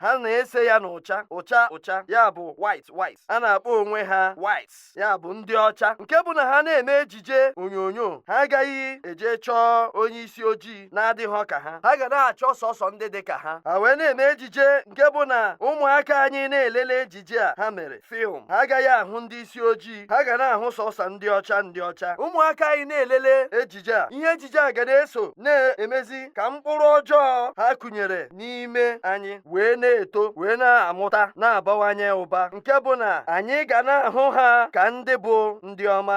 ha na-ese ya n'ụcha ụcha ụcha ya bụ white white ha na-akpọ onwe ha white ya bụ ndị ọcha nke bụ na ha na-eme ejije onyonyo ha agaghị eje chọọ onye isi ojii na-adịghọ ka ha ha ga na-achọ sọsọ ndị dị ka ha ha wee na-eme ejije nke bụ na ụmụaka anyị na-elele ejije ejije a ha mere film ha agaghị ahụ ndị isi ojii ha ga na-ahụ sọsọ ndị ọcha ndị ọcha ụmụaka anyị na-elele ejije a ihe ejije a ga na-eso na-emezi ka mkpụrụ ọjọọ ha kụnyere n'ime anyị wee na-eto wee na-amụta na-abawanye ụba nke bụ na anyị ga na-ahụ ha ka ndị bụ ndị ọma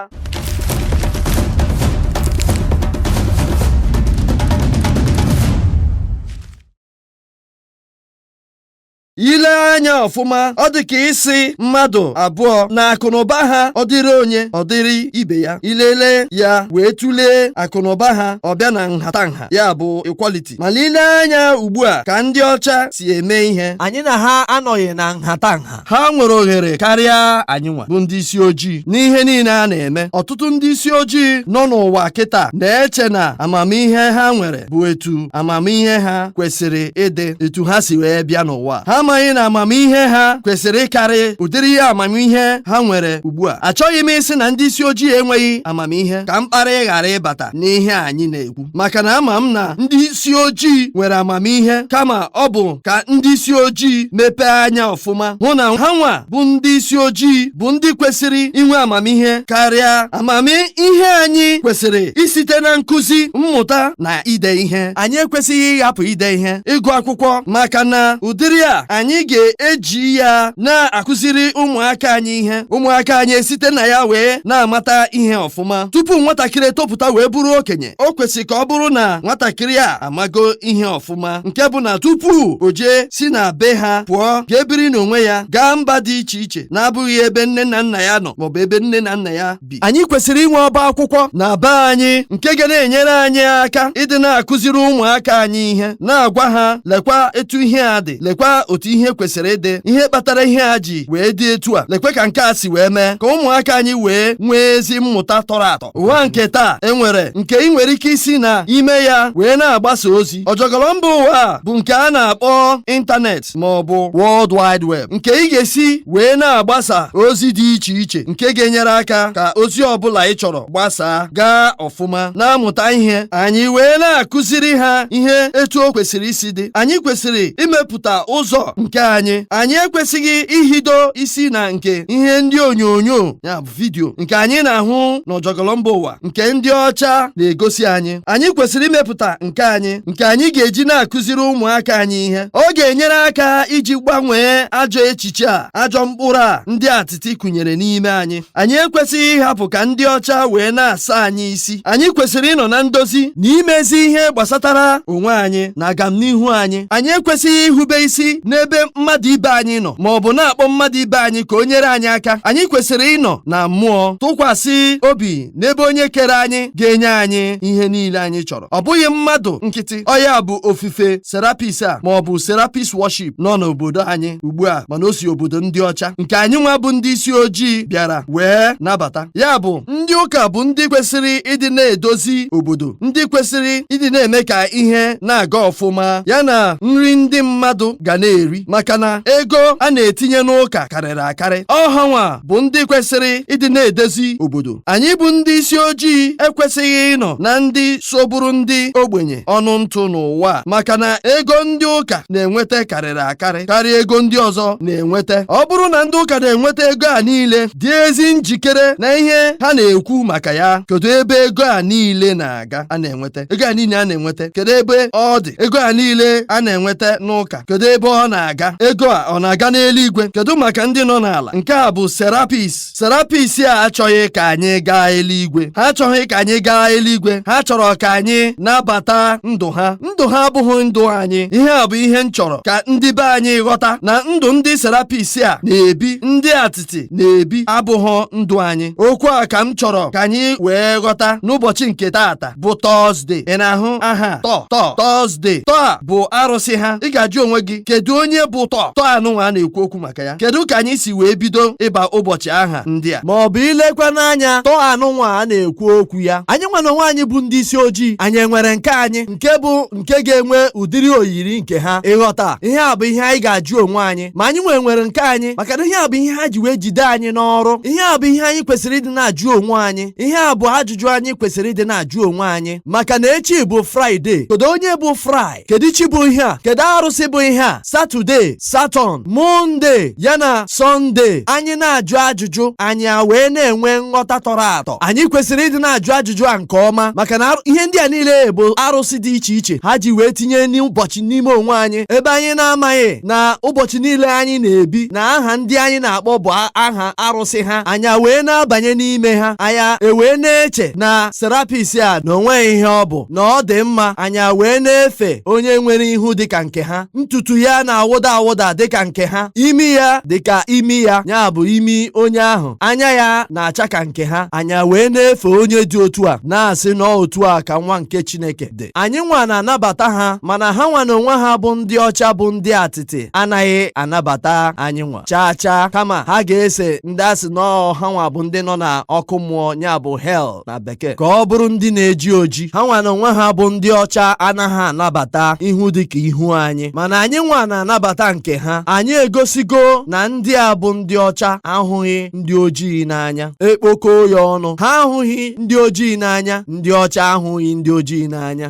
i lee anya ọfụma ọ dị ka ị sị mmadụ abụọ na akụnụba ha ọ dịrị onye ọ dịrị ibe ya i lelee ya wee tụlee akụnụba ha ọ bịa na nhatanha ya bụ equality ma i lee anya ugbu a ka ndị ọcha si eme ihe anyị na ha anọghị na nhatanha ha nwere ohere karịa anyị nwa bụ ndị isi ojii n'ihe niile a na-eme ọtụtụ ndị isi ojii nọ n'ụwa kịta na-eche na amamihe ha nwere bụ etu amamihe ha kwesịrị ịdị etu ha si wee bịa n'ụwa ha amaghị na amamihe ha kwesịrị ịkarị ụdịrị ihe amamihe ha nwere ugbu a achọghị m ịsị na ndị isi ojii enweghị amamihe ka mkparị ghara ịbata n'ihe anyị na-ekwu maka na ama m na ndị isi ojii nwere amamihe kama ọ bụ ka ndị isi ojii mepee anya ọfụma hụ na ha nwa bụ ndị isi ojii bụ ndị kwesịrị inwe amamihe karịa amamihe anyị kwesịrị isite na nkụzi mmụta na ide ihe anyị ekwesịghị ịhapụ ide ihe ịgụ akwụkwọ maka na ụdịrị a anyị ga-eji ya na-akụziri ụmụaka anyị ihe ụmụaka anyị esite na ya wee na-amata ihe ọfụma tupu nwatakịrị etopụta wee bụrụ okenye o kwesịrị ka ọ bụrụ na nwatakịrị a amago ihe ọfụma nke bụ na tupu o jee si na be ha pụọ ga-ebiri n'onwe ya gaa mba dị iche iche na-abụghị ebe nne na nna ya nọ maọbụ ebe nne na nna ya bi anyị kwesịrị inwe ọba akwụkwọ na be anyị nke ga na-enyere anyị aka ịdị na-akụziri ụmụaka anyị ihe na-agwa ha lekwa etu ihe a dị lekwa otu ihe kwesịrị ịdị ihe kpatara ihe a ji wee dị etu a lekwa ka nke a si wee mee ka ụmụaka anyị wee nwee ezi mmụta tọrọ atọ ụwa nke taa e nwere nke ị nwere ike isi na ime ya wee na-agbasa ozi ọjọgọrọ mba ụwa bụ nke a na-akpọ ịntanetị ma ọ bụ World Wide Web nke ị ga-esi wee na-agbasa ozi dị iche iche nke ga-enyere aka ka ozi ọbụla ị chọrọ gbasaa gaa ọfụma na-amụta ihe anyị wee na-akụziri ha ihe etu o kwesịrị isi dị anyị kwesịrị imepụta ụzọ nke anyị anyị ekwesịghị ihido isi na nke ihe ndị onyonyo ya vidiyo nke anyị na-ahụ n'ọjọgọlọ mba ụwa nke ndị ọcha na-egosi anyị anyị kwesịrị imepụta nke anyị nke anyị ga-eji na-akụziri ụmụaka anyị ihe ọ ga-enyere aka iji gbanwee ajọ echiche a ajọ mkpụrụ a ndị atịtị kụnyere n'ime anyị anyị ekwesịghị ịhapụ ka ndị ọcha wee na-asa anyị isi anyị kwesịrị ịnọ na ndozi na imezi ihe gbasatara onwe anyị na agamnihu anyị anyị ekwesịghị ihube isi n'ebe mmadụ ibe anyị nọ ma ọ bụ na-akpọ mmadụ ibe anyị ka o nyere anyị aka anyị kwesịrị ịnọ na mmụọ tụkwasị obi n'ebe onye kere anyị ga-enye anyị ihe niile anyị chọrọ ọ bụghị mmadụ nkịtị ọ ya bụ ofufe serapis a ma ọ bụ serapis worship nọ n'obodo anyị ugbu a mana o si obodo ndị ọcha nke anyị nwa bụ ndị isi ojii bịara wee nabata ya bụ ndị ụka bụ ndị kwesịrị ịdị na-edozi obodo ndị kwesịrị ịdị na-eme ka ihe na-aga ọfụma ya na nri ndị mmadụ ga na-eri maka na ego a na-etinye n'ụka karịrị akarị ọ ha nwa bụ ndị kwesịrị ịdị na-edozi obodo anyị bụ ndị isi ojii ekwesịghị ịnọ na ndị so bụrụ ndị ogbenye ọnụ ntụ n'ụwa maka na ego ndị ụka na-enweta karịrị akarị karịa ego ndị ọzọ na-enweta ọ bụrụ na ndị ụka na-enweta ego a niile dị ezi njikere na ihe ha na-ekwu maka ya kedu ebe ego a niile na-aga a na-enweta ego a niile a na-enweta kedu ebe ọ dị ego a niile a na-enweta n'ụka kedu ebe ọ na-aga ego a ọ na-aga n'eluigwe kedu maka ndị nọ n'ala nke a bụ serapis serapis a achọghị ka anyị gaa eluigwe ha achọghị ka anyị gaa eluigwe ha chọrọ ka anyị nabata ndụ ha ndụ ha abụghị ndụ anyị ihe a bụ ihe m chọrọ ka ndị be anyị ghọta na ndụ ndị serapis a na-ebi ndị atịtị na-ebi abụghị ndụ anyị okwu a ka m chọrọ ka anyị wee ghọta n'ụbọchị nke taata bụ tọzde ị na-ahụ aha tọ tọ tọzde tọ a bụ arụsị ha ị ga-ajụ onwe gị kedu onye bụ tọ tọ anụnwa a na-ekwu okwu maka aka ya kedu ka anyị si wee bido ịba ụbọchị aha ndị a ma ọ bụ ilekwa n'anya tọ anụnwa a na-ekwu okwu ya anyị nwa na onwe anyị bụ ndị isi ojii anyị enwere nke anyị nke bụ nke ga-enwe ụdịrị oyiri nke ha ị ghọta ihe a bụ ihe anyị ga-ajụ onwe anyị ma anyị nwee nwere nke anyị maka na ihe a bụ ihe ha ji wee jide anyị n'ọrụ ihe a bụ ihe anyị kwesịrị ịdị na-ajụ onwe anyị ihe a bụ ajụjụ anyị kwesịrị ịdị na-ajụ onwe anyị maka na echi bụ fraịde kedu onye bụ fraị kedu chi bụ ihe a kedu arụsị bụ ihe a satọde satọn mọnde ya na sọnde anyị na-ajụ ajụjụ anyị a wee na-enwe nghọta tọrọ atọ anyị kwesịrị ịdị na-ajụ ajụjụ a nke ọma maka na arụ- ihe ndị a niile bụ arụsị dị iche iche ha ji wee tinye n'ụbọchị n'ime onwe anyị ebe anyị na-amaghị na ụbọchị niile anyị na-ebi na aha ndị anyị na-akpọ bụ a- aha arụsị ha anyị a wee na-abanye n'ime ha anyị a- ewee na-eche na serapis a na o nweghị ihe ọ bụ na ọ dị mma anyị wee na-efe onye nwere ihu dịka nke ha ntutu ya na-awụda awụda dịka nke ha imi ya dịka imi ya ya bụ imi onye ahụ anya ya na-acha ka nke ha anyị wee na-efe onye dị otu a na-asị na ọ otu a ka nwa nke Chineke dị anyị nwa na-anabata ha mana ha nwa na onwe ha bụ ndị ọcha bụ ndị atịtị anaghị anabata anyị nwa chaa chaa kama ha ga-ese ndị a sị na ọ ha nwa bụ ndị nọ na ọkụ mmụọ ya bụ hell na bekee ka ọ bụrụ ndị na-eji oji ha nwa na onwe ha bụ ndị ọcha anaghị anabata ihu dị ka ihu anyị mana anyị nwa na-anabata nke ha anyị egosigo na ndị a bụ ndị ọcha ahụghị ndị ojii n'anya e kpokọọ ya ọnụ ha ahụghị ndị ojii n'anya ndị ọcha ahụghị ndị ojii n'anya